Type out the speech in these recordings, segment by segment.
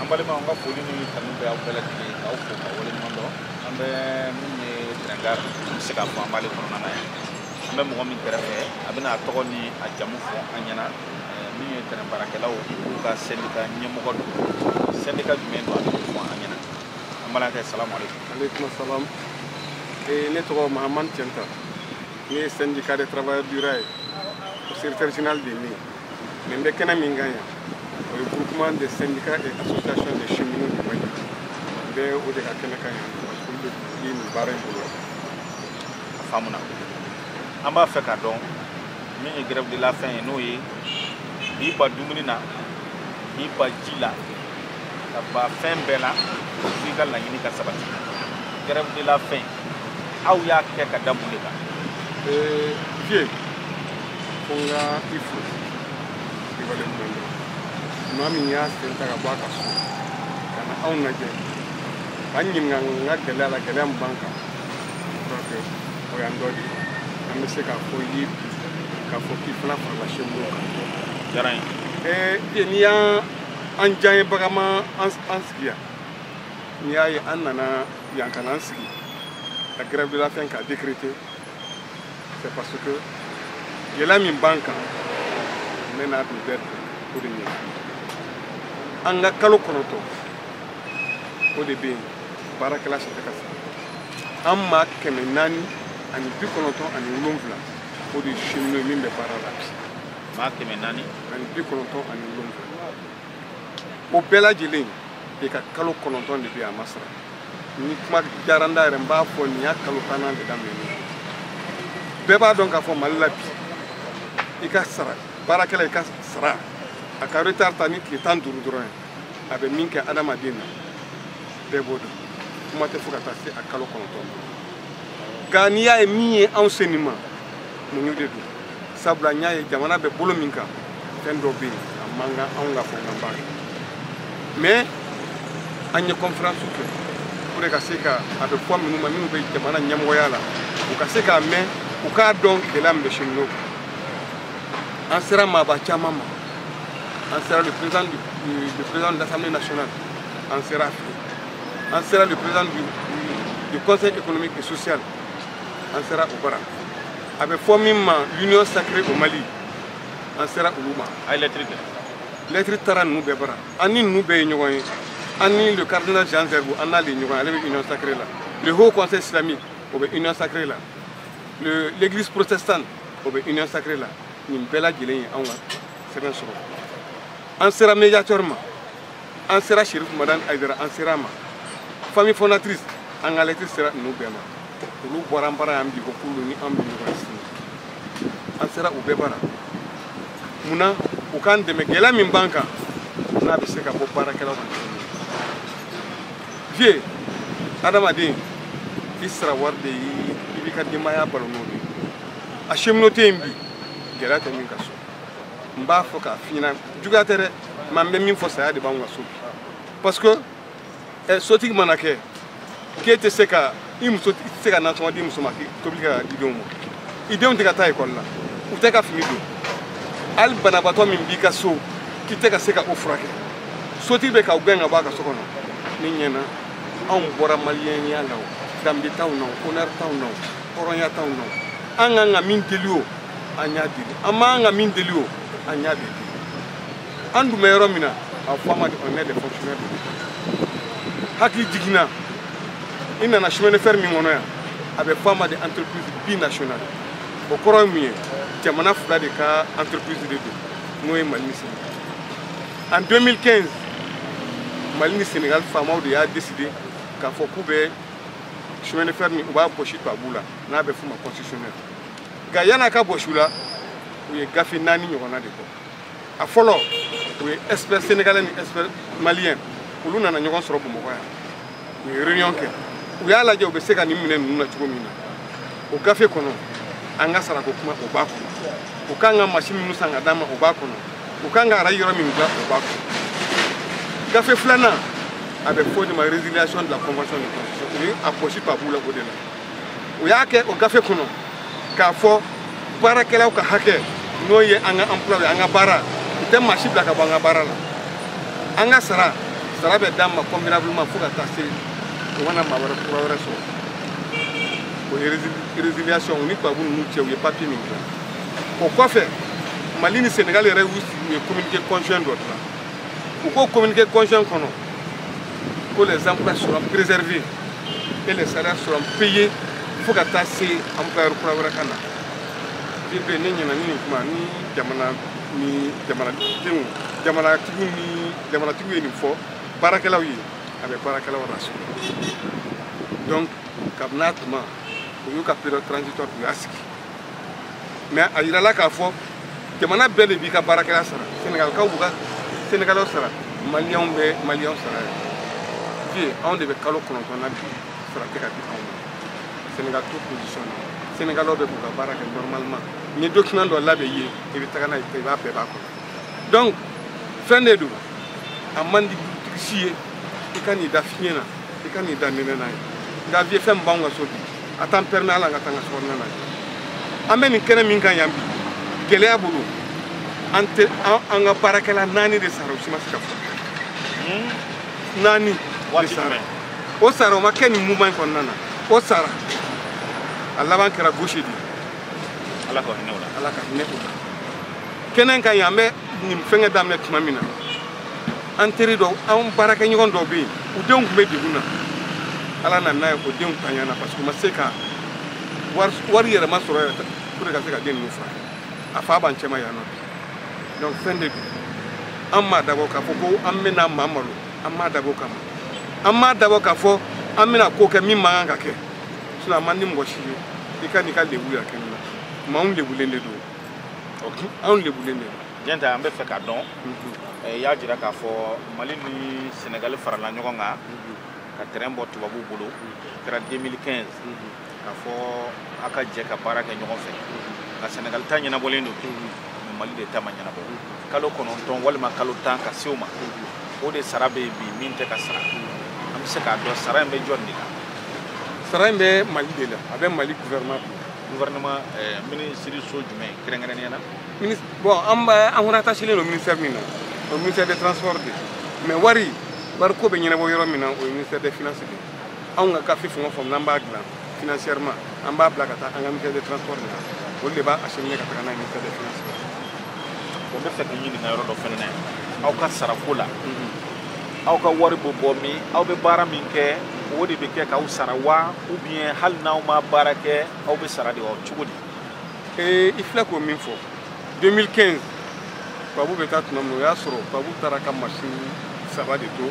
an balima an ka foli ni kanu bɛ aw bɛɛ lajɛlen ye k'aw fo ka waleɲuman dɔn an bɛ min ye tɛrɛn gare an bɛ se k'a fɔ an b'ale kɔnɔna na yan an bɛ mɔgɔ min kɛrɛfɛ a bɛna a tɔgɔ ni a jamu fɔ an ɲɛna min ye tɛrɛn baarakɛlaw olu ka sɛndika ɲɛmɔgɔ don sɛndika jumɛn don a bɛ fɔ an ɲɛna an b'a kɛ salamu aleykum aleykum salam ne tɔgɔ mahamani cɛnta ne ye syndicat des travailleurs du rail o secrétaire général de ye mais n bɛ kɛnɛ min kan yan o ye groupement des syndicats et associations des cheminots du mali n bɛ o de ka kɛnɛ kan yan parce que olu de ye nin baara in bolo a faamuna an b'a fɛ ka dɔn min ye grève de la faim ye n'o ye k'i ban dumuni na k'i ban ji la ka ban fɛn bɛɛ la f'i ka laɲini ka sabati grève de la faim aw y'a kɛ ka da mun de kan vieux ko n ka i fo i waleɲuman dɔn maa min y'a sen ta ka bɔ a ka so ka na anw lajɛ k'an ɲininka an ka gɛlɛya la gɛlɛya min b'an kan donc o y'an dɔ de ye an bɛ se k'a fɔ i k'a fɔ k'i fana farala cheminot kan diyara n ye ee n'i y'a ye an diyaɲebaga ma an sigi yan n'i y'a ye an nana yan ka n'an sigi ka grève de la faim k'a décréter c'est parce que gɛlɛya min b'an kan n bɛ n'a don bɛɛ o de ɲɛ an ka kalo kɔnɔntɔn o de bɛ yen baarakɛla si tɛ ka sara an maa kɛmɛ naani ani bi kɔnɔntɔn ani wolonwula o de ye cheminot ye min bɛ baara la bi maa kɛmɛ naani ani bi kɔnɔntɔn ani wolonwula o bɛɛ lajɛlen de ka kalo kɔnɔntɔn de bɛ a ma sara ni kuma diyara n da yɛrɛ n b'a fɔ nin y'a kalo tannan de daminɛ bɛɛ b'a dɔn k'a fɔ mali la bi i ka sara baarakɛla i ka sara a ka retard ta ni tile tan duuru dɔrɔn ye a bɛ min kɛ adamaden na bɛɛ b'o dɔn kuma tɛ fo ka taa se a kalo kɔnɔntɔn ma nka n'i y'a ye min ye anw se nin ma muɲu de don sabula an y'a ye jamana bɛ bolo min kan fɛn dɔ bɛ yen a man kan anw ka fɛn ka baara kɛ mais an ye conférence kɛ pour ka se ka a bɛ fɔ minnu ma minnu bɛ jamana ɲɛmɔgɔya la u ka se k'a mɛn u k'a dɔn gɛlɛya min bɛ cheminot kan an sera maaba caman ma an sera le président du le président de l'Assemblée nationale an sera fɛ an sera le président du du conseil économique et social an sera u bara a bɛ fɔ min ma l'union sacrée au mali an sera olu ma an ye lɛtiri kɛ lɛtiri taara ninnu bɛɛ bara an ni ninnu bɛɛ ye ɲɔgɔn ye an ni le cardinal jean zerbo an n'ale ye ɲɔgɔn ye ale bɛ union sacrée la le haut conseil islamique o bɛ union sacrée la le l'église protestante o bɛ union sacrée la nin bɛɛ lajɛlen ye anw ka sɛbɛn sɔrɔ an sera médiateur ma an sera chérif madani haïdara an sera a ma famille fondatrice an ka lɛtiri sera ninnu bɛɛ ma olu bɔra an bara yan bi ko k'olu ni an bɛ ɲɔgɔn sini an sera u bɛɛ bara mun na u k'an dɛmɛ gɛlɛya min b'an kan n'a bɛ se ka bɔ baarakɛlaw kan vie adamaden i sara wari de ye i b'i ka denbaya balo n'o de ye a cheminot tɛ yen bi gɛlɛya tɛ min ka so n b'a fɔ k'a f'i ɲɛna juguya tɛ dɛ mɛ n bɛ min fɔ saya de b'anw ka so bi parce que eh, sotigi mana kɛ k'e tɛ se ka i muso i tɛ se ka nasɔngɔ di muso ma k'i tobili ka di denw ma i denw tɛ ka taa ekɔli la u tɛ ka fini don hali banabaatɔ min b'i ka so k'i tɛ ka se ka o furakɛ sotigi bɛ k'aw gɛn ka bɔ a ka so kɔnɔ ne ɲɛna anw bɔra maliyɛnya la o danbe t'anw na o honneur t'anw na o hɔrɔnya t'anw na o an kan ka min deli o an y'a deli an man kan ka min deli o an y'a deli an dun bɛ yɔrɔ min na a fɔ an ma de on est des fonctionnaires de hakilijigin na i nana chemin de fer min kɔnɔ yan a bɛ fɔ a ma de entreprise binationale o kɔrɔ ye mun ye jamana fila de ka entreprise de don n'o ye mali ni senegal en 2015 mali ni senegal faamaw de y'a décidé k'a fɔ k'u bɛ chemin de fer minɛ u b'a bɔsi tubabuw la n'a bɛ f'u ma concessionnaires nka yan'a ka bɔsi u la u ye gafe naani ɲɔgɔnna de bɔ a fɔlɔ o ye expert sénégalais ni expert malien olu nana ɲɔgɔn sɔrɔ bamakɔ yan u ye réunion kɛ u y'a lajɛ u bɛ se ka nin minɛ ninnu na cogo min na o gafe kɔnɔ an ka sarako kuma o b'a kɔnɔ u k'an ka masin minnu san ka d'an ma o b'a kɔnɔ u k'an ka arayi yɔrɔ min dilan o b'a kɔnɔ gafe filanan a bɛ fɔ o de ma résiliation de la convention de concession o ye a bɔsi tubabuw la o de la u y'a kɛ o gafe kɔnɔ k'a fɔ baarakɛlaw ka hakɛ n'o ye an ka emploi ye an ka baara u tɛ maa si bila ka bɔ an ka baara la an ka sara sara bɛ d'an ma convenablement fo ka taa se u ka na maa wɛrɛ kura wɛrɛ sɔrɔ o ye résiliation u ni tubabu ninnu cɛ u ye papier min dilan o kɔfɛ mali ni senegal yɛrɛ u ye communiqué conjoint dɔ dilan u k'o communiqué conjoint kɔnɔ ko les emplois seront préservés et les salaires seront payés fo ka taa se employeur kura wɛrɛ ka na bi bɛ ne ɲɛ na ni nin kuma ni jamana ni jamanadenw jamanatigiw ni jamanatigiw ye nin fɔ baarakɛlaw ye a bɛ baarakɛlaw rassurer donc kabini a tuma u y'u ka période transitoire u y'a sigi mais a yirala k'a fɔ jamana bɛɛ de b'i ka baarakɛla sara senegalikaw b'u ka senegalaw sara maliyɛnw bɛ maliyɛnw sara ye anw de bɛ kalo kɔnɔntɔn na bi sara tɛ ka di anw ma senegal to position na senegalaw bɛ k'u ka baara kɛ normalement n ye document dɔ labɛn i ye i bɛ taga n'a ye i b'a bɛɛ b'a kɔnɔ donc fɛn de don a man di dutigi si ye i ka n'i da fiɲɛ na i ka n'i da nɛnɛ na yen nka vu fɛn min b'anw ka so bi a t'an permet a la an ka taa an ka sokɔnɔna na an bɛ nin kɛnɛ min kan yan bi gɛlɛya bolo an tɛ an ka baarakɛla naani de sara o si ma se ka fɔ hmm? naani de sara o sara o ma kɛ nin mouvement in kɔnɔna na o sara a laban kɛra gauche de ala ka hinɛ o la ala ka hinɛ o la kɛnɛ in kan yan an bɛ nin fɛngɛ daminɛ tuma min na an teri dɔw an baarakɛɲɔgɔn dɔw bɛ yen u denw tun bɛ degun na ala nana n'a ye k'o denw tanyana parce que u ma se ka wari yɛrɛ ma sɔrɔ yɛrɛ pour ka se ka den ninnu furakɛ a fa b'an cɛma yan nɔ donc fɛn de don an m'a dabɔ k'a fɔ ko an bɛna maa malo an m'a dabɔ kama an m'a dabɔ k'a fɔ an bɛna ko kɛ min man kan ka kɛ sinon a man di mɔgɔ si ye i ka n'i ka lebu yɛrɛ kɛ nin na maa anw lebulen de don anw lebulen de don diɲɛ ta an b'a fɛ k'a dɔn i y'a jira k'a fɔ mali ni senegali farala ɲɔgɔn kan ka terɛn bɔ tubabuw bolo kɛra 2015 k'a fɔ a ka jɛ ka baara kɛ ɲɔgɔn fɛ nka senegali ta ɲɛnabɔlen don mali de ta ma ɲɛnabɔ kalo kɔnɔntɔn walima kalo tan ka se o ma o de sara bɛ yen bi min tɛ ka sara an bɛ se k'a dɔn sara in bɛ jɔn de la sara in bɛ mali de la a bɛ mali gouvernement gouvernement eh, minisiriso jumɛn kɛrɛnkɛrɛnnenya na bon an b'a an rattachélen don ministère min na o ministère des transports de mais wari wari ko bɛ ɲɛnabɔ yɔrɔ min na o ye ministère des finances de anw ka gafe fɛn o fɛn n'an b'a dilan financièrement an b'a bila ka taa an ka ministère de transport de la olu de b'a acheminer ka taga n'a ye ministère de finance la n b'a fɛ k'a ɲininka yɔrɔ dɔ fɛnɛ na aw ka sarako la aw ka wari bɛ bɔ min aw bɛ baara min kɛ o de bɛ kɛ k'aw sara wa ou bien hali n'aw ma baara kɛ aw bɛ sara de wa cogo di ee i filɛ ka min fɔ 2015 tubabu bɛ taa tuma min o y'a sɔrɔ tubabu taara ka masini saba de to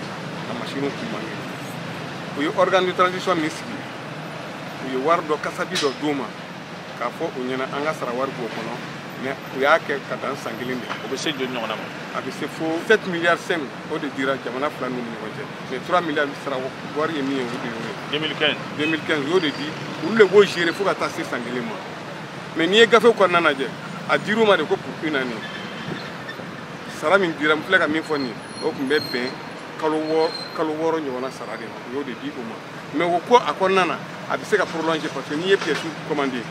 ka masiniw kun man kɛnɛ u ye organe de transition min sigi u ye wari dɔ kasabi dɔ d'u ma k'a fɔ u ɲɛna an ka sara wari b'o kɔnɔ mɛ u y'a kɛ ka dan san kelen de o bɛ se joli ɲɔgɔnna ma a bɛ se fo 7 milliard 5 o de dira jamana fila ninnu ni ɲɔgɔn cɛ mɛ 3 milliard sara wari ye min ye o de y'o ye 2015 u y'o de di olu de b'o gérer fo ka taa se san kelen ma mɛ n'i ye gafe kɔnɔna lajɛ a dir'u ma de ko pour un an nin sara min dira n filɛ ka min fɔ nin o tun bɛ bɛn kalo wɔɔrɔ kalo wɔɔrɔ ɲɔgɔnna sara de ma u y'o de di o ma mɛ o ko a kɔnɔna na a bɛ se ka prolonger parce que n'i ye pièce commandé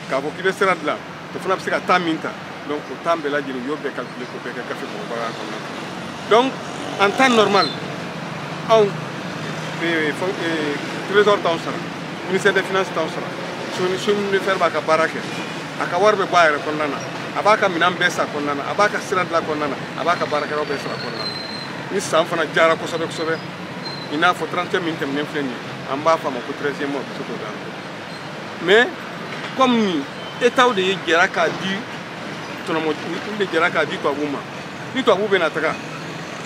k'a fɔ k'i bɛ sira dilan o fana bɛ se ka temps min ta donc o temps bɛɛ lajɛlen u y'o bɛɛ calculé k'o bɛɛ kɛ gafe mɔgɔbaga kɔnɔna donc en temps normal anw eh, eh, trésor t'anw sara ministère des finances t'anw sara chemin de fer b'a ka baara kɛ a ka wari bɛ bɔ a yɛrɛ kɔnɔna na a b'a ka minɛn bɛɛ san a kɔnɔna na a b'a ka sira dilan kɔnɔna na a b'a ka baarakɛlaw bɛɛ sara kɔnɔna na ni san fana diyara kosɛbɛ kosɛbɛ i n'a fɔ 31 min tɛmɛnen filɛ nin ye an b'a fɔ a ma ko 13e mois bɛ se k'o d'an ma mais comme ni étatw de ye jɛra k'a di tubabu ma olu de jɛra k'a di tubabuw ma ni tubabuw bɛna taga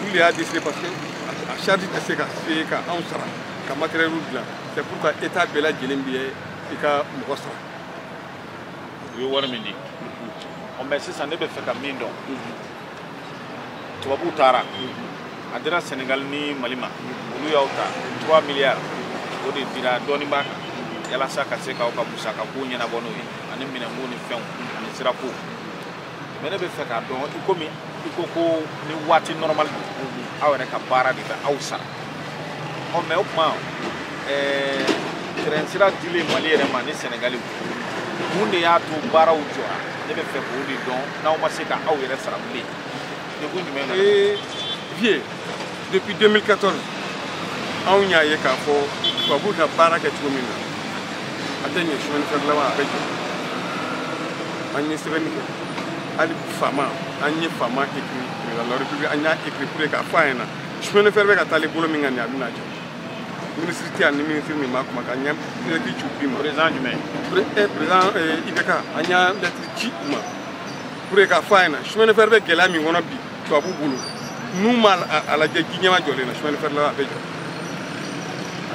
olu de y'a décidé parce que a charge tɛ se ka se ka anw sara ka matériel dilan c'est pourquoi état bɛɛ lajɛlen bɛ i ka mɔgɔ sara u ye wari min di mais sisan ne bɛ fɛ ka min dɔn tubabuw taara a dira sɛnɛgali ni mali ma olu y'aw ta 3 miliyari o de dira dɔɔninba kan yalasa ka se k'aw ka musaka kow ɲɛnabɔ n'o ye ani minɛnko ni fɛnw ani sirako mɛ ne bɛ fɛ k'a dɔn i komi i ko ko ni waati nɔrɔmali don aw yɛrɛ ka baara de bɛ aw sara ɔ mɛ o tuma ɛɛ tɛrɛn sira dilen mali yɛrɛ ma ni sɛnɛgali mun de y'a to baaraw jɔra ne bɛ fɛ k'o de dɔn n'aw ma se ka aw yɛrɛ sara bilen degun jumɛn na. ee vieux depuis 2014 anw y'a ye k'a fɔ tubabuw ka baara kɛ cogo min na a tɛ ɲɛ chemin de fer laban a bɛ jɔ an ye sɛbɛnni kɛ hali faama an ye faama écrit président de la république an y'a écrit pour que k'a fɔ a ɲɛna chemin de fer bɛ ka taa le bolo min kan nin a bɛna jɔ minisiri tɛ yan ni minisiri min b'a kuma k'an ye lɛtiri ci bi ma président jumɛn président IBK an ye lɛtiri ci u ma pour que k'a fɔ a ɲɛna chemin de fer bɛ gɛlɛya min kɔnɔ bi tubabu bolo n'u ma a lajɛ ji ɲɛma jɔlen na chemin de fer la a bɛ jɔ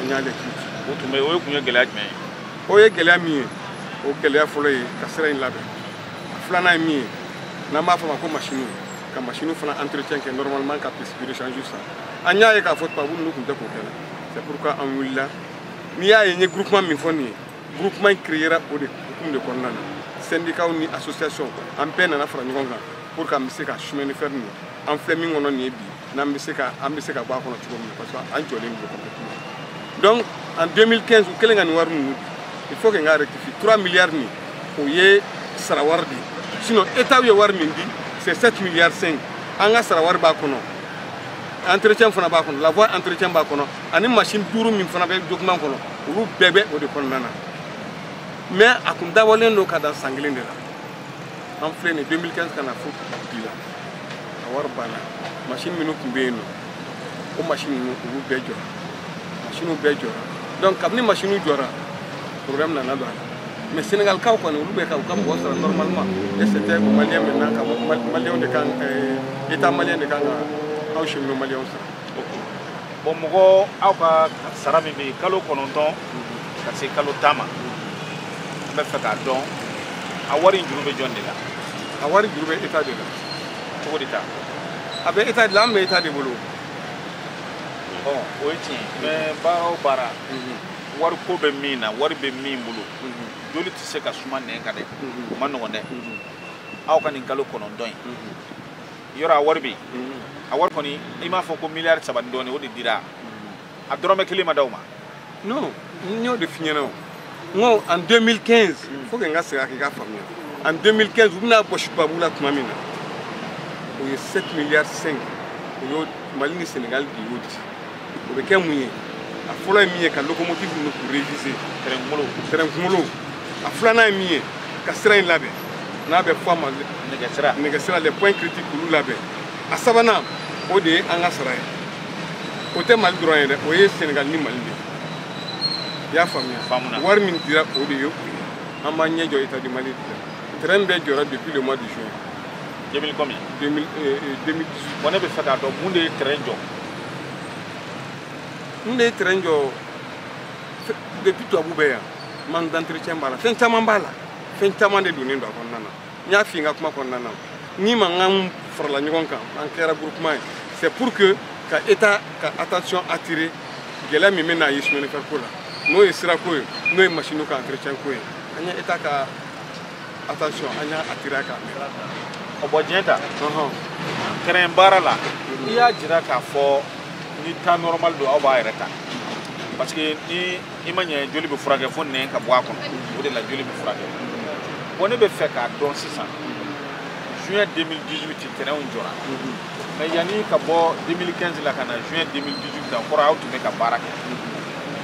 an ye lɛtiri ci o tun bɛ o ye kun ye gɛlɛya jumɛn ye o ye gɛlɛya min ye o gɛlɛya fɔlɔ ye ka sira in labɛn filanan ye min ye n'an b'a fɔ a ma ko masiniw ka machine fana entretien kɛ normalement ka pièce de rechange san an y'a ye k'a fɔ tubabu ninnu tun tɛ k'o kɛ la c'est pourquoi an wulila n'i y'a ye n ye groupement min fɔ nin ye groupement in créera o de hukumu de kɔnɔna na syndicat ni association an bɛɛ nana fara ɲɔgɔn kan pour que an bɛ se ka chemin de fer nin an filɛ min kɔnɔ nin ye bi n'an bɛ se ka an bɛ se ka bɔ a kɔnɔ cogo min na parce que an jɔlen don complètement donc en 2015 u kɛlen ka nin wari ninnu il faut que n ka rectifier 3 milliards nin o ye sara wari de ye sinon état ye wari min di c'est 7 milliards 5 an ka sara wari b'a kɔnɔ entretien fana b'a kɔnɔ la voie entretien b'a kɔnɔ ani machine duuru min fana bɛ document kɔnɔ olu bɛɛ bɛ o de kɔnɔna na mais a tun dabɔlen don ka dan san kelen de la an filɛ nin 2015 ka na fo bi la a wari banna machine minnu tun bɛ yen nɔ o machine ninnu olu bɛɛ jɔra machine bɛɛ jɔra donc kabini machine jɔra problème nana don a la mais senegalikaw kɔni olu bɛ ka u ka mɔgɔ sara normalement et c'était malien maintenant ka malien de kan état malien de kan ka aw cheminot malien sara bon mɔgɔ aw ka sara min bɛ kalo kɔnɔntɔn ka se kalo tan ma n bɛ fɛ k'a dɔn a wari in juru bɛ jɔn de la a wari juru bɛ état de la cogo di ta a bɛ état de la an bɛ état de bolo bon o ye tiɲɛ ye mais baara o baara wari ko bɛ min na wari bɛ min bolo joli tɛ se ka suma nin kan dɛ o man nɔgɔn dɛ aw ka nin kalo kɔnɔntɔn in yɔrɔ a wari bɛ yen a wari kɔni i m'a fɔ ko miliyari saba ni dɔɔnin o de dira a dɔrɔmɛ kelen ma d'aw ma non n y'o de f'i ɲɛna o n ko en 2015 faut que n ka segin a k'i k'a faamuya en 2015 u bɛna bɔsi tubabu la tuma min na o ye 7 miliyari 5 o y'o mali ni senegali de y'o di o bɛ kɛ mun ye a fɔlɔ ye min ye ka locomotive ninnu k'u réviser terɛn kunkolo terɛn kunkolo a filanan ye min ye ka sira in labɛn n'a bɛ fɔ a ma nɛgɛsira nɛgɛsira les points critiques k'olu labɛn a sabanan o de ye an ka sara ye o tɛ mali dɔrɔn ye dɛ o ye senegal ni mali de i y'a faamuya wari min dira o de ye o ye an b'an ɲɛ jɔ état du mali de la terɛn bɛɛ jɔra depuis le mois de juin 2000 combien 2018 bon ne bɛ fɛ k'a dɔn mun de ye terɛn jɔ n de ye terɛn jɔ depuis tubabu bɛ yan manque d'entretien b'a la fɛn caman b'a la fɛn caman de donnen don a kɔnɔna na n y'a fɔ n ka kuma kɔnɔna na n'i y'a mɛn k'an farala ɲɔgɔn kan an kɛra groupement ye c'est pour que ka état ka attention attirer gɛlɛya min bɛ na ye chemin de fer ko la n'o ye sirako ye n'o ye masiniw ka entretien ko ye an ye état ka attention an y'a attiré a kan ka bɔ diɲɛ ta train baara la i y'a jira k'a fɔ ni temps normal don aw b'aw yɛrɛ ta parce que ni i ma ɲɛ joli bɛ furakɛ fo nɛn ka bɔ a kɔnɔ o de la joli bɛ furakɛ bon ne bɛ fɛ k'a dɔn sisan juin 2018 trainw jɔra mais yanni ka bɔ 2015 la ka na juin 2018 la o kɔrɔ aw tun bɛ ka baara kɛ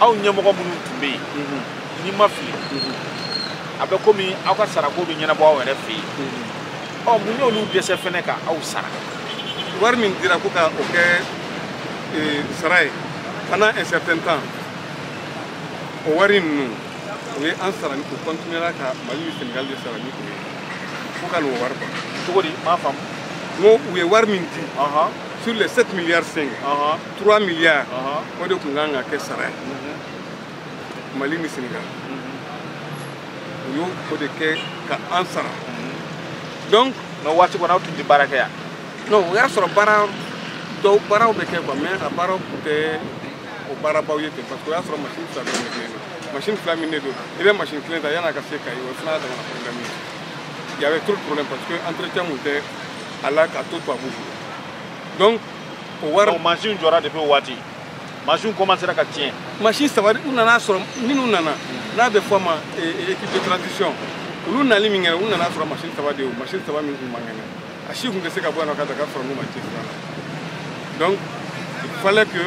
aw ɲɛmɔgɔ minnu tun bɛ yen n'i ma fili a bɛ komi aw ka sarako bɛ ɲɛnabɔ aw yɛrɛ fɛ yen ɔ mun y'olu dɛsɛ fɛnɛ ka aw sara wari min dira ko ka o kɛ eh, sara ye pendant un certain temps o wari ninnu u ye an sara ni u continuera ka mali ni senegal de sara ni o ye fo ka n'o wari ban cogo di n m'a faamu n ko u ye wari min di ɔhɔn sur les 7 milliards 5 ɔhɔn 3 milliards ɔhɔn o de tun kan ka kɛ sara ye mali ni senegal u y'o o de kɛ ka an sara donc o waati kɔnɔ aw tun tɛ baara kɛ yan non o y'a sɔrɔ baara dɔw baaraw bɛ kɛ quoi mais a baaraw tun tɛ o baarabaw ye ten parce que o y'a sɔrɔ machine fila bɛ ne kelen don machine fila min ne don i bɛ machine kelen ta yan ka se kayes o fana y'a damana problème ye il y avait trop de problème parce que entretien tun tɛ a la k'a to tubabuw bolo donc o wari machine jɔra depuis o waati machine commencera ka tiɲɛ machine saba u nana sɔrɔ minnu nana n'a bɛ fɔ u ma équipe de transition olu nali min kɛra u nana sɔrɔ machine saba de ye machine saba min tun man kɛnɛ a si tun tɛ se ka bɔ yan nɔ ka dakar sɔrɔ n'u ma cɛsiri a la donc il fallait que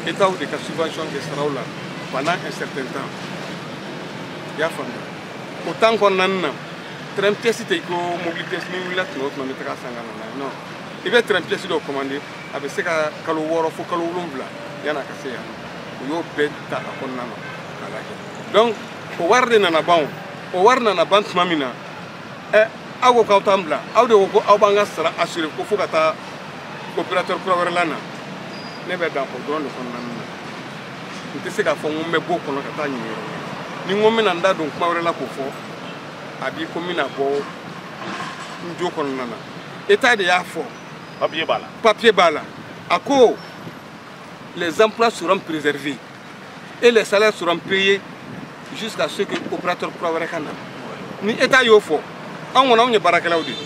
état de ka subvention kɛ saraw la pendant un certain temps i y'a faamuya o temps kɔnɔna na train pièce tɛ i ko mobili pièce n'i wulila tuma o tuma i bɛ taga a san ka na n'a ye non i bɛ train pièce dɔ commandé a bɛ se ka kalo wɔɔrɔ fo kalo wolonwula yanni a ka se yan u y'o bɛɛ ta a kɔnɔna na k'a lajɛ donc o wari de nana ban o o wari nana ban tuma min na ɛ aw ko k'aw t'an bila aw de ko ko aw b'an ka sara assuré ko fo ka taa opérateur kura wɛrɛ lana ne bɛ dan o dɔrɔn de kɔnɔna na n tɛ se k'a fɔ n ko n bɛ bɔ o kɔnɔ ka taa ɲini yɔrɔ ni n ko n bɛna n da don kuma wɛrɛ la k'o fɔ a b'i ko n bɛna bɔ n jo kɔnɔna na état de y'a fɔ papier b'a la papier b'a la a ko les emplois seront préservés et les salaires seront payés jusqu'à ce que opérateur kura wɛrɛ ka na ni état y'o fɔ anw kɔni anw ye baarakɛlaw de ye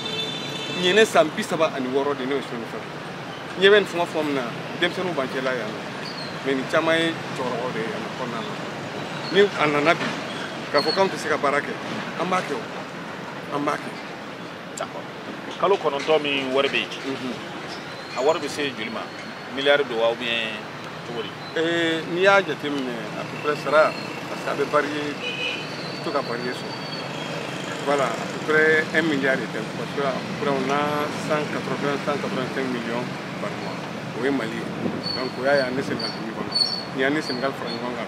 nin ye ne san bi saba ani wɔɔrɔ de ne bɛ chemin de fer ne bɛ nin fɛngɛ fɔ min na denmisɛnninw b'an cɛla yan nɔ mais nin caman ye cɛkɔrɔbaw de ye yan nɔ kɔnɔna na ni a nana bi k'a fɔ k'anw tɛ se ka baara kɛ an b'a kɛ o an b'a kɛ kalo kɔnɔntɔn min wari bɛ yen a wari bɛ se joli ma miliyari don wa ubiyɛn cogo di eh, n'i y'a jateminɛ à peu près sara parce que a bɛ variye to ka variye sɔrɔ voilà à peu près un milliard et demi parce que à peu près on a 180 185 millions par mois o ye mali ye donc o y'a ye an ni senegal tun bɛ ɲɔgɔn na ni an ni senegal fara ɲɔgɔn kan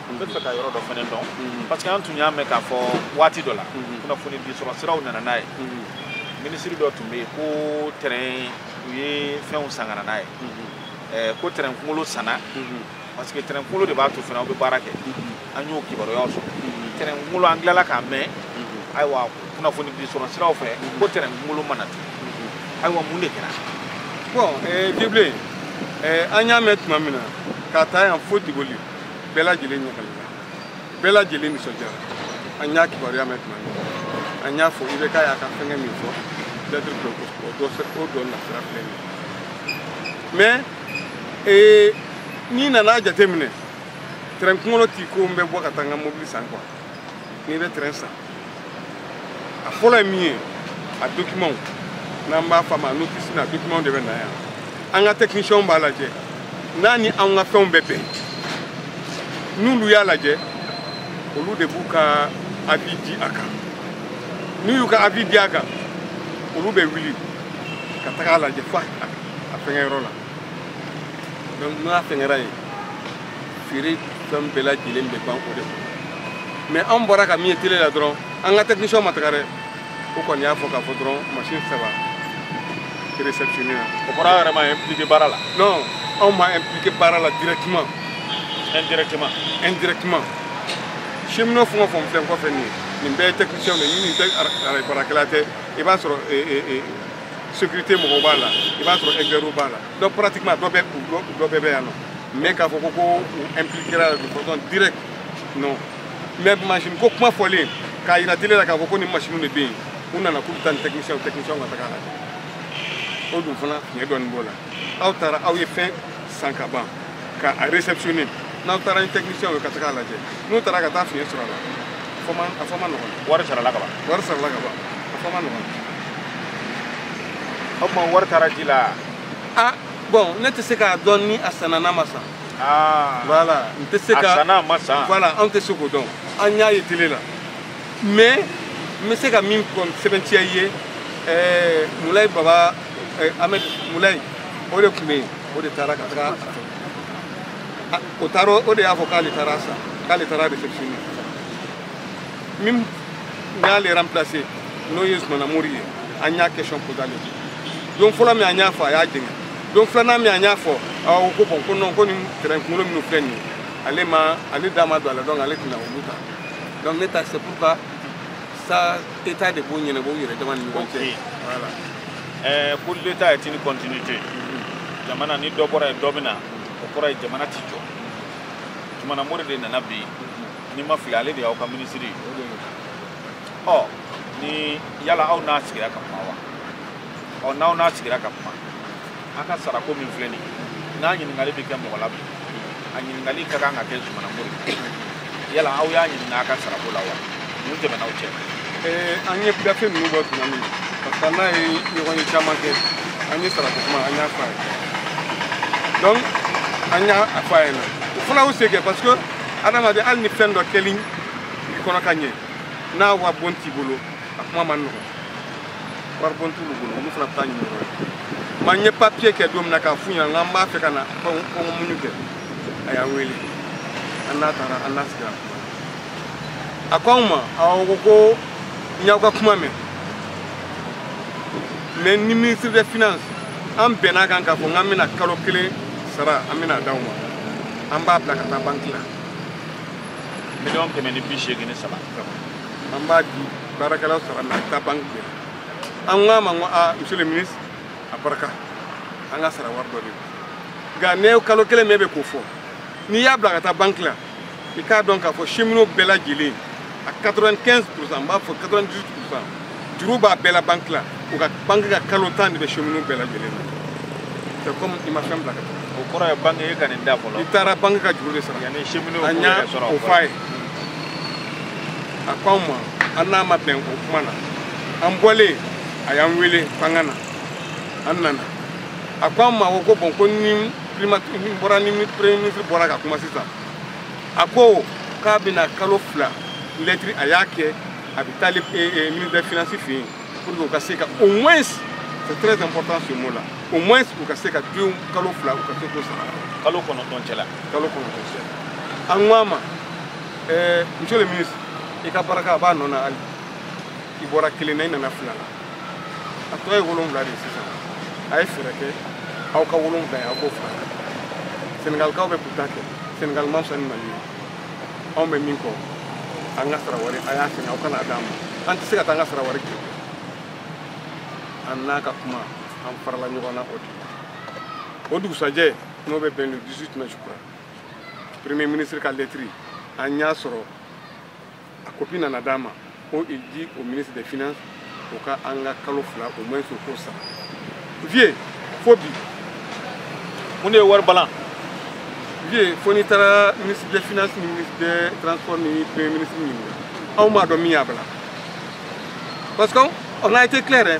n b'a fɛ ka yɔrɔ dɔ fana dɔn mhm. parce que an tun y'a mɛn k'a fɔ waati dɔ la mhm. kunnafoni di sɔrɔ siraw nana n'a ye mhm. minisiri dɔ tun bɛ yen ko tɛrɛn u ye fɛnw san ka na n'a ye eh, ko tɛrɛn kunkolo sanna parce que tɛrɛn kunkolo de b'a to fɛnw bɛ baara kɛ an y'o kibaruyaw sɔrɔ tɛrɛn kunkolo an tilala k'a mɛn ayiwa kunnafoni di sɔrɔ siraw fɛ ko tɛrɛn kunkolo ma na tun ayiwa mun de kɛra bon eh, bibilen eh, an y'a mɛn tuma min na ka ta yan fo diboli bɛɛ lajɛlen ɲagalila bɛɛ lajɛlen nisɔndiyara an y'a kibaruya mɛn tuma min an y'a fɔ ibk y'a ka fɛngɛ min fɔ lɛtiri dɔ o dɔ o dɔ nasira filɛ nin ye mais ee n'i nana a jateminɛ tɛrɛn kunkolo t'i ko n bɛ bɔ ka taa n ka mobili san quoi n'i bɛ tɛrɛn san a fɔlɔ ye min ye a dokimanw n'an b'a f'a ma notisi n'a dokimanw de bɛ na yan an ka tɛkinisiyɛnw b'a lajɛ n'a ni anw ka fɛnw bɛ bɛn n'olu y'a lajɛ olu de b'u ka avis di a kan n'u y'u ka avis di a kan olu bɛ wuli ka taga a lajɛ fo a fɛngɛ yɔrɔ la donc n'a fɛngɛra yen feere fɛn bɛɛ lajɛlen bɛ ban o de kɔnɔ mais an bɔra ka min ye tele la dɔrɔn an ka tɛkinisiyɛnw ma taga dɛ o kɔni y'a fɔ k'a fɔ dɔrɔn masini saba réceptionné na o kɔrɔ aw yɛrɛ ma impliqué baara la non anw ma impliqué baara la directement indirectement indirectement cheminot fɛn o fɛn filɛ n kɔfɛ nin ye nin bɛɛ ye tɛkinisiyɛnw de ye ni nin tɛ arayi baarakɛla tɛ i b'a sɔrɔ sécurité mɔgɔw b'a la i b'a sɔrɔ experts b'a la donc pratiquement dɔ bɛ dɔ bɛɛ bɛ yan nɔ mais k'a fɔ ko ko u impliquera de façon directe non mais machine ko kuma fɔlen k'a yira télé la k'a fɔ ko nin machine de bɛ yen u nana k'u bɛ taa ni technicien technicienw ka taga a lajɛ o dun fana fiɲɛ dɔɔni b'o la aw taara aw ye fɛn san ka ban ka a réceptionner n'aw taara ni technicienw ye ka taga a lajɛ n'u taara ka taa fiɲɛ sɔrɔ a la a fɔ man a fɔ man nɔgɔn wari sarala ka ban wari sarala ka ban a fɔ man nɔgɔn o tuma wari taara ji la a bon ne tɛ se k'a dɔn ni a sanna n'a ma san voilà n tɛ se ka a sanna a ma san voilà anw tɛ se k'o dɔn an y'a ye tele la mais n bɛ se ka min sɛbɛntiya i ye ɛɛ mulayi baba Ahmed Mulayi o de tun bɛ yen o de taara ka taga o taara o de y'a fɔ k'ale taara sa k'ale taara réception na min y'ale remplacer n'o ye Zumana Mori ye an y'a question posé ale don fɔlɔ min an y'a fɔ a y'a jɛngɛ don filanan min an y'a fɔ awɔ ko bɔn ko non ko nin train kunkolo minnu filɛ nin ye ale ma ale da ma don a la donc ale tɛna olu ta donc ne ta c'est pourquoi Ça, état de b'o ɲɛnabɔ u yɛrɛ dama ni ɲɔgɔn cɛ voilà ɛɛ ko l'état est une continuité mhm. jamana ni dɔ bɔra yen dɔ bɛ na o kɔrɔ ye jamana ti jɔ Zumana Mori de nana bi mhm. ni n ma fili ale de y'aw ka minisiri ɔ ni yala aw n'a sigira ka kuma wa ɔ n'aw n'a sigira ka kuma a ka sarako min filɛ nin n'a ɲininkali bɛ kɛ mɔgɔ la bi a ɲininkali ka kan ka kɛ Zumana Mori yala aw y'a ɲininka a ka sarako la wa mun tɛmɛn'aw cɛ an ye gafe ninnu bɔ tuma min parce que an n'a ye ɲɔgɔnye caman kɛ an ye sarako kuma an y'a fɔ a ye donc an y'a fɔ a ɲɛna o fana y'u se kɛ parce que adamaden hali ni fɛn dɔ kɛli i kɔnɔ ka ɲɛ n'a waribon t'i bolo a kuma man nɔgɔn waribon t'olu bolo olu fana bɛ taa ɲini yɔrɔ yen mais an ye papiye kɛ don min na k'a f'u ɲɛna k'an b'a fɛ ka na kɔngɔ muɲu kɛ a y'an wele an n'a taara an n'a sigira a ko anw ma awɔ ko ko n y'aw ka kuma mɛn ne ni ministre de finance an bɛnn'a kan k'a fɔ k'an bɛna kalo kelen sara an bɛn'a d'aw ma an b'a bila ka taa banki la miliyɔn kɛmɛ ni bi seegin ni saba an b'a di baarakɛlaw sara la ka ban kile an k'a ma ko aa monsieur le ministre a barika an ka sara wari don dɛ nka nin kalo kelen min bɛ ka fɔ n'i y'a bila ka taa banki la i k'a dɔn k'a fɔ cheminot bɛɛ lajɛlen a 95 pourcent n b'a fɔ 98 pourcent juru b'a bɛɛ la banki la u ka banki ka kalo tan de bɛ cheminot bɛɛ lajɛlen na c'est comme i ma fɛn bila ka taa o kɔrɔ ye banki y'a ka nin ta fɔlɔ i taara banki ka juru de sara yanni cheminotw k'a ye a ko an ma an n'a ma bɛn o kuma na an bɔlen a y'an wele k'an ka na an nana a ko an ma ko ko bɔn ko ne bɔra ni premier ministre bɔra ka kuma sisan a ko k'a bɛna kalo fila lɛtiri a y'a kɛ a bɛ taali ministre de finance fɛ yen pour que u ka se ka au moins c'est très important ce mot là au moins u ka se ka deux kalo fila u ka se k'o sara kalo kɔnɔntɔn cɛ la kalo kɔnɔntɔn cɛ an ko a ma ɛɛ monsieur le ministre i ka baraka a b'a nɔ na hali i bɔra kelen na i nana fila la a tɔ ye wolonwula de ye sisan a ye fɛɛrɛ kɛ aw ka wolonwula ye aw k'o fara kan senegalikaw bɛ k'u ta kɛ senegali ma fisa ni mali ye anw bɛ min kɔ an ka sara wari a y'a segin aw ka n'a d'an ma an tɛ se ka taa an ka sara wari kɔ an n'a ka kuma an farala ɲɔgɔn na o de la o dugusajɛ n'o bɛ bɛn le 18 mai je crois premier ministre ka lettre an y'a sɔrɔ a kopi nana d'an ma ko il dit au ministre des finances o ka an ka kalo fila au moins o k'o sara vieux fo bi mun de ye wari balan vieux fo n'i taara ministre des finances ni ministre des transports ni premier ministre ɲininka anw m'a dɔn min y'a bila parce que on a été clair hein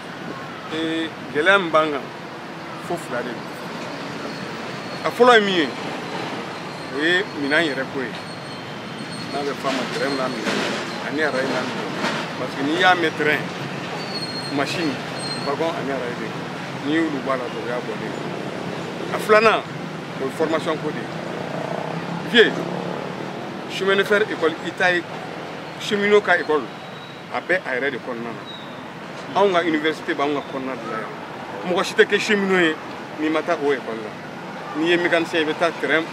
ee gɛlɛya min b'an kan fo fila de don a fɔlɔ ye min ye o ye minan yɛrɛ ko ye n'a bɛ f'a ma tɛrɛn n'a minan ani arayi n'a minan parce que n'i y'a mɛn tɛrɛn masini wagon ani arayi de n'i y'olu b'a la dɔrɔn o y'a bɔlen a filanan o ye formation ko de ye vieux chemin de fer école i t'a ye cheminot ka école a bɛ a yɛrɛ de kɔnɔna na anw ka université b'anw ka kɔnɔna de la yan mɔgɔ si tɛ kɛ cheminot ye n'i ma taa o école la n'i ye mécanicien i bɛ taa tɛrɛn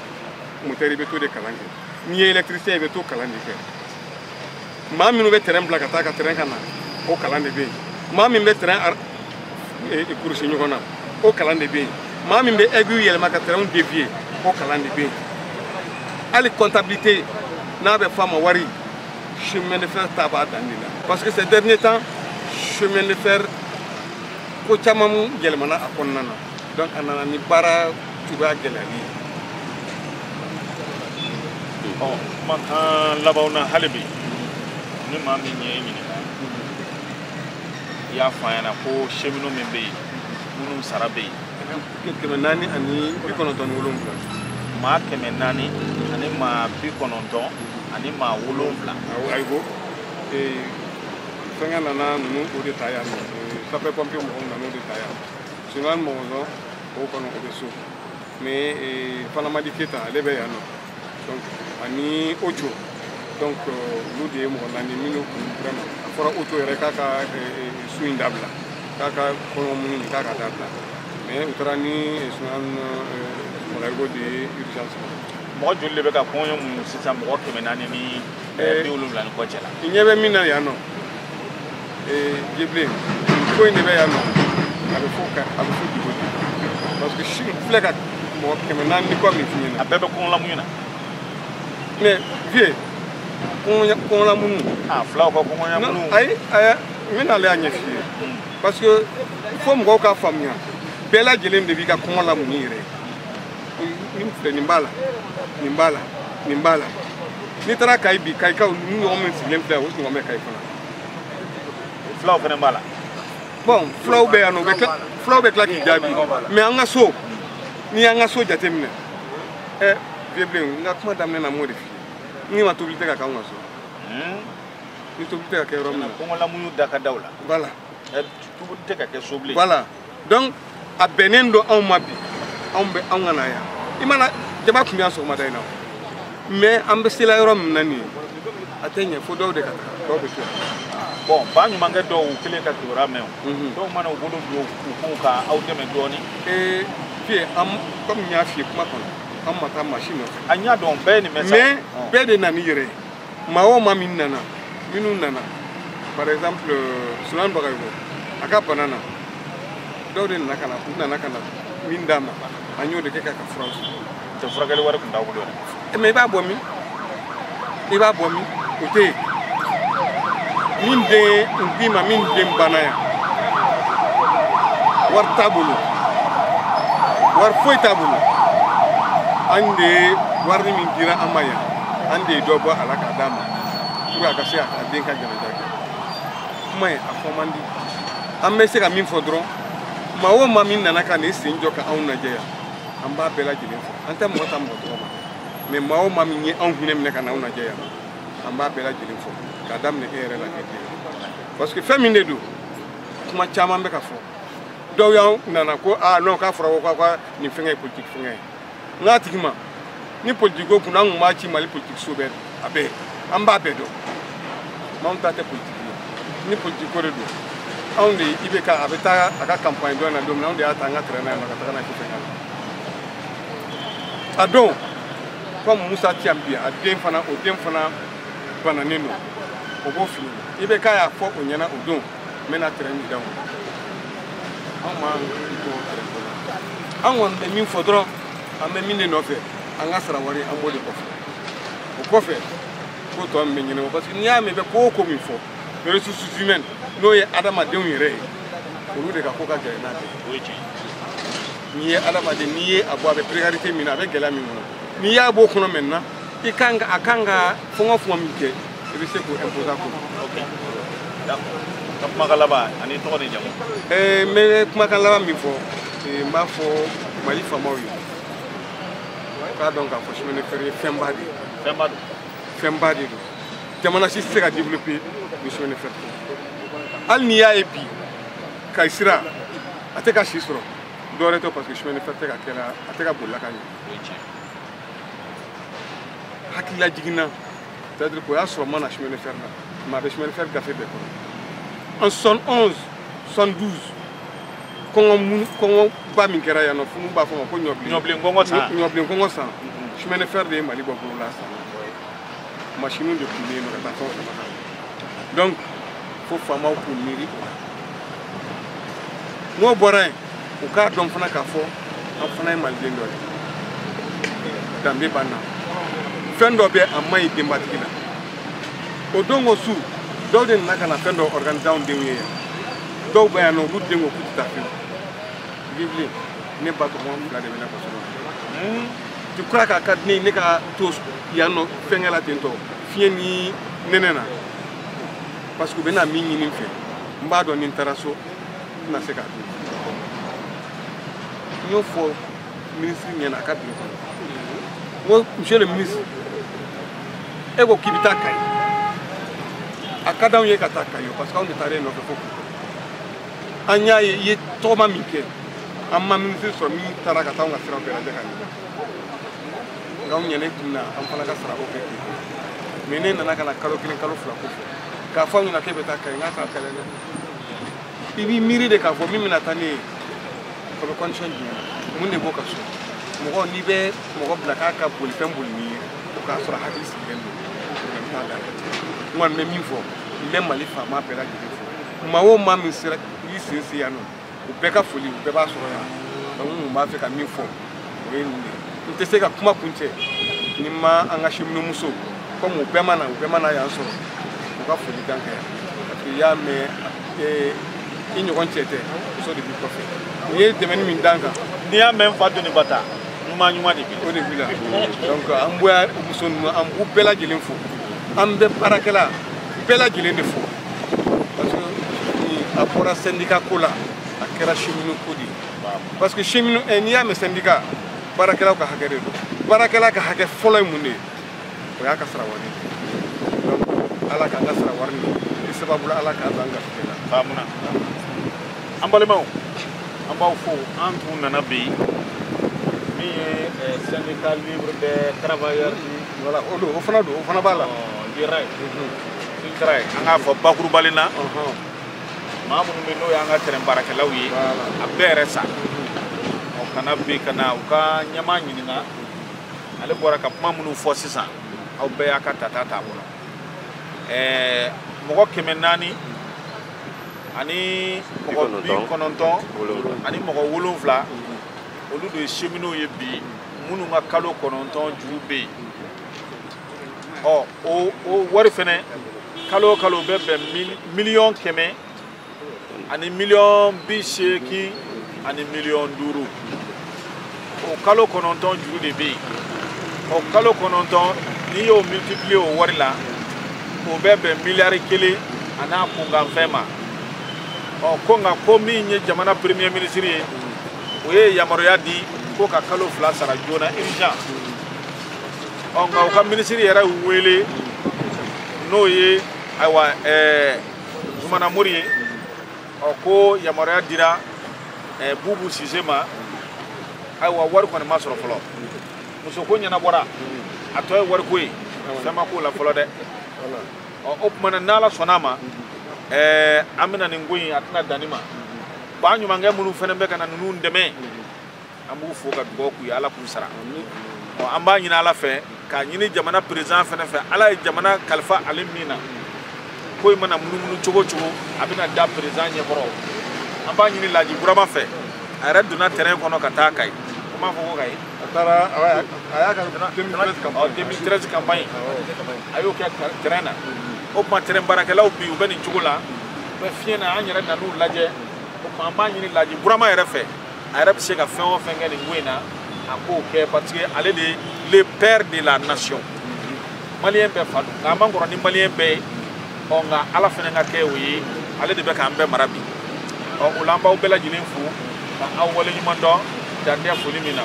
moteur i bɛ t'o de kalan kɛ n'i ye électricien i bɛ t'o kalan de kɛ maa minnu bɛ tɛrɛn bila ka taa ka tɛrɛn ka na o kalan de bɛ yen maa min bɛ tɛrɛn kurusi ɲɔgɔn na o kalan de bɛ yen maa min bɛ aiguille yɛlɛma ka tɛrɛn dévier o kalan de bɛ yen hali comptabilité n'a bɛ f'a ma wari chemin de fer ta b'a dan de la parce que ces derniers temps chemin de fer ko caman yɛlɛmana a kɔnɔna na donc a nana ni baara cogoya gɛlɛyali ye ɔ kumakan labanw na hali bi ni maa min y'i ɲininka i y'a fɔ a ɲɛna ko cheminot min bɛ yen minnu sara bɛ yen kɛmɛ naani ani bi kɔnɔntɔn ni wolonwula maa kɛmɛ naani ani maa bi kɔnɔntɔn ani maa wolonwula ayibo fɛngɛ nana ninnu o de ta yan sapeurs-pompiers mɔgɔw nana o de ta yan sulemani bagayoko o kɔni o bɛ so mais fanamadi keta ale bɛ yan nɔ donc ani oco donc olu de ye mɔgɔ naani minnu kun vraiment a fɔra oco yɛrɛ k'a ka sun in dabila k'a ka kɔngɔ muɲuni k'a ka dabila mais u taara ni sulemani bagayoko de ye urgence mɔgɔ joli de bɛ ka kɔngɔ muɲu sisan mɔgɔ kɛmɛ naani ni ɛɛ bi wolonwula ni kɔ cɛ la. i ɲɛ bɛ min na yan nɔ ee jebilen ko in de bɛ yan nɔ a bɛ fɔ ka a bɛ fɔ dugu de parce que n filɛ ka mɔgɔ kɛmɛ naani ni kɔ min f'i ɲɛna. a bɛɛ bɛ kɔngɔlamuɲu na. mais vieux kɔngɔnya kɔngɔlamuɲu. aa filaw ka kɔngɔnyamuɲu. ayi ayi n bɛ n'ale y'a ɲɛf'i ye hmm. parce que il faut mɔgɔw k'a faamuya bɛɛ lajɛlen de b'i ka kɔngɔlamuɲu yɛrɛ ye. ni min filɛ nin b'a la nin b'a la nin b'a la n'i taara kayi bi kayikaw nin ɲɔgɔn min sigilen filɛ o ɲɔgɔn bɛ kayi fana fulaw fana b'a la bɔn fulaw bɛ yan nɔ fulaw bɛ tila k'i jaabi mais an ka so n'i y'an ka so jateminɛ ɛ vieux n ka kuma daminɛ na m'o de f'i ye n k'i ma tobili tɛ ka k'anw ka so hmm? ni tobili tɛ ka kɛ yɔrɔ min na kɔngɔlamuɲu da ka daw la voilà tobili tɛ ka kɛ so bilen voilà donc a bɛnnen don anw ma bi anw bɛ anw ka na yan i mana jama tun bɛ yan sɔgɔmada in na mais an bɛ sela yɔrɔ min na nin ye a tɛ ɲɛ fo dɔw de ka taa dɔw bɛ to yan bɔn ba ɲumankɛ dɔw u kelen ka kibaruya mɛn o mhm. dɔw mana u bolo don u kun ka aw dɛmɛ dɔɔni ee vieux an comme n y'a f'i ye kuma kɔnɔ an ma taa maa si nɔfɛ an y'a dɔn bɛɛ ye nin mɛ sa mais bɛɛ de nan'i yɛrɛ ye maa o maa min nana minnu nana par exemple euh, sunan bagayoko a ka bana na dɔw de nana ka na u nana ka na min d'a ma an y'o de kɛ k'a ka furaw ta furakɛli wari tun t'a bolo yɛrɛ mais i b'a bɔ min i b'a bɔ min o tɛ yen min den n k'i ma min den banna yan wari t'a bolo wari foyi t'a bolo an de ye wari min dira an ma yan an de ye dɔ bɔ a la k'a d'a ma pour a ka se a ka den ka janaja kɛ kuma ye a fɔ man di an bɛ se ka min fɔ dɔrɔn maa o maa min nana ka n'i sen jɔ ka anw lajɛ yan an b'a bɛɛ lajɛlen fo an tɛ mɔgɔ ta mɔgɔ tɔgɔ ma mais maa o maa min ye anw hinɛ minɛ ka na anw lajɛ yan an b'a bɛɛ lajɛlen fo k'a daminɛ e yɛrɛ la kɛ den parce que fɛn min de don kuma caman bɛ ka fɔ dɔw y'an nana ko aa ah, non k'a fɔra ko k'a ka nin fɛngɛ ye politique fɛngɛ ye n k'a tigi ma ni politiko kunna an tun b'a ci mali politikiso bɛɛ a bɛɛ an b'a bɛɛ dɔn anw ta tɛ politiki ye ni politiko de don anw de IBK a bɛ taa a ka kanpaɲi dɔ in na don min na anw de y'a ta an ka tɛrɛn na yan nɔ ka taga n'a ye fɛn a don comme musa ti yan bi a den fana o den fana bananen don o b'o fili IBK y'a fɔ o ɲɛna o don n bɛna tɛrɛn d'aw ma anw mako tɛ tɛrɛn ko la an kɔni bɛ min fɔ dɔrɔn an bɛ min de nɔfɛ an ka sara wari an b'o de kɔfɛ o kɔfɛ ko tɔ min bɛ ɲɛnabɔ parce que n'i y'a mɛn i bɛ ko o ko min fɔ ressources humaines n'o ye adamadenw yɛrɛ ye olu de ka ko ka gɛlɛn n'a bɛɛ o ye tiɲɛ n'i ye adamaden n'i ye a bɔ a bɛ précarité min na a bɛ gɛlɛya min kɔnɔ n'i y'a b'o kɔnɔ maintenant i kan a kan ka fɔngɔ fɔngɔ min kɛ i bɛ se k'o imposer ko ka kumakan laban ani tɔgɔ ni jamu eh, n bɛ kumakan laban min fɔ eh, n b'a fɔ mali faamaw ye k'a dɔn k'a fɔ chemin de fer ye fɛnba de ye fɛnba don fɛnba de don jamana si tɛ se ka développer ni chemin de fer tɛ hali n'i y'a ye bi kayi sira a tɛ ka si sɔrɔ dɔwɛrɛ tɛ parce que chemin de fer tɛ ka kɛra a tɛ ka bolila ka ɲɛ hakili lajiginna c'est à dire k'o y'a sɔrɔ n ma na chemin de fer la mais a bɛ chemin de fer gafe bɛɛ kɔnɔ en soixante onze soixante douze kɔngɔ min kɔngɔba min kɛra yan nɔ funu b'a f'a ma ko ɲɔbilen ɲɔbilen kɔngɔ san ɲɔbilen kɔngɔ san chemin de fer de ye mali bɔ bolo la san masiniw de tun bɛ yen nɔ ka taa fɛn fɛn kan donc fo faamaw k'u miiri o la n'o bɔra yen u k'a dɔn fana k'a fɔ an fana ye maliden dɔ ye danbe b'an na fɛn dɔ bɛ a man ɲi denbatigi la o don ko su dɔw de nana ka na fɛn dɔ organiser anw denw ye yan dɔw bɛ yan nɔ olu den ko k'u tɛ taa fiyewu bibili ne ba tɔgɔma fila de bɛ ne kɔsɔrɔ tu kura k'a ka di ne ye ne ka to yan nɔ fɛnkɛ la ten tɔ fiɲɛ ni nɛnɛ na parce que u bɛna min ɲini n fɛ n b'a dɔn ni n taara so tɛna se k'a dun n y'o fɔ minisiri ɲɛna a ka tile kɔnɔ n ko monsieur le ministre e ko k'i bɛ taa kayi a ka d'anw ye ka taa kayi parce que anw de taara e nɔfɛ fo kulukɔrɔ an y'a ye i ye tɔgɔma min kɛ an ma minisiri sɔrɔ min taara ka taa anw ka siraw bɛɛ lajɛ ka ɲɛ nka anw ɲɛna e kun na an fana ka sarako kɛ ten mais ne nana ka na kalo kelen kalo fila ko fɔ k'a fɔ aw ɲɛna k'e bɛ taa kayi n k'a t'a kɛlɛ dɛ i b'i miiri de k'a fɔ min bɛna taa ne ye o bɛ condition jumɛn mun de b'o ka so mɔgɔ n'i bɛ mɔgɔ bila k'a ka bolifɛn boli n'i ye o k'a sɔrɔ hakili sigilen don n t'a da n kɔni bɛ min fɔ n bɛ mali faama bɛɛ lajɛlen fo maa o maa min sera i sen se yan nɔ u bɛɛ ka foli u bɛɛ b'a sɔrɔ yan donc n tun b'a fɛ ka min fɔ o ye nin de n tɛ se ka kuma kuncɛ ni n ma an ka cheminot muso comme u bɛɛ ma na u bɛɛ ma na yan sɔrɔ u ka foli kan kɛ parce que i y'a mɛn i ɲɔgɔn cɛ tɛ muso de b'i kɔfɛ u ye dɛmɛni min d'an kan n'i y'a mɛn n fa doni ba ta ɲuman ɲuman de b'i la o de b'i la donc an bɛ muso ninnu an b'u bɛɛ lajɛlen fo an bɛ baarakɛla bɛɛ lajɛlen de fo parce que a bɔra syndicat ko la a kɛra cheminot ko de parce que cheminot eh, n'i y'a mɛn syndicat baarakɛlaw ka hakɛ de don baarakɛla ka hakɛ fɔlɔ ye mun de ye o y'a ka sara wari donc ala k'an ka sara wari ni i sababu la ala k'an k'an garijɛgɛ la k'a mun na an balimaw an b'aw fo an tun nana bi min ye eh, syndicat libre des travailleurs voilà o don o fana don o fana b'a la oh, sytrail an k'a fɔ bakurubalen na maa minnu bɛ n'o y'an ka tɛrɛn baarakɛlaw ye a bɛɛ yɛrɛ sa ɔ kana bɛ ka na u ka ɲɛmaa ɲininka ale bɔra ka kuma minnu fɔ sisan aw bɛɛ y'a ka tata t'a bolo ɛɛ mɔgɔ kɛmɛ naani ani mɔgɔ bi kɔnɔntɔn ani mɔgɔ wolonwula olu de ye seminow ye bi minnu ka kalo kɔnɔntɔn juru bɛ yen ɔ o wari fɛnɛ kalo o kalo o bɛ bɛn miliyɔn kɛmɛ ani miliyɔn bi seegin ani miliyɔn duuru o kalo kɔnɔntɔn juru de bɛ yen o kalo kɔnɔntɔn n'i y'o multiplier o wari la o bɛ bɛn miliyari kelen an'a kunkanfɛn ma ɔ ko nka ko min ye jamana premier ministre ye o ye yamaruya di ko ka kalo fila sara joona urgent ɔ nka u ka minisiri yɛrɛ wele n'o ye ayiwa ɛɛ zumana mori ye ɔ ko yamaruya dira ɛɛ bubu sise ma ayiwa wari kɔni ma sɔrɔ fɔlɔ musoko ɲɛnabɔra a tɔ ye wariko ye fɛn ma k'o la fɔlɔ dɛ ɔ o tuma na n'ala sɔnna a ma ɛɛ an bɛna nin ko in a tɛna dan nin ma ba ɲumankɛ minnu fana bɛ ka na ninnu dɛmɛ an b'u fo ka dugawu k'u ye ala k'u sara an b'a ɲini ala fɛ k'a ɲini jamana perezan fana fɛ ala ye jamana kalifa ale min na ko in mana munumunu cogo cogo a bɛna da perezan ɲɛkɔrɔ an b'a ɲini laji burama fɛ a yɛrɛ donna tɛrɛn kɔnɔ ka taa kayi an b'a fɔ ko kayi a taara a y'a ka 2013 campagne a y'o kɛ tɛrɛn na o tuma tɛrɛn baarakɛlaw bi u bɛ nin cogo la u bɛ fiɲɛ na an yɛrɛ nan'u lajɛ o tuma an b'a ɲini laji burama yɛrɛ fɛ a yɛrɛ bɛ se ka fɛn o fɛn kɛ nin ko in na a k'o kɛ parce que ale de le père de la nation maliyɛn bɛɛ fa don nka a man kɔrɔ ni maliyɛn bɛɛ ye ɔ nka ala fana ka kɛ o ye ale de bɛ k'an bɛɛ mara bi ɔ o la an b'aw bɛɛ lajɛlen fo ka aw waleɲuman dɔn dan tɛ foli min na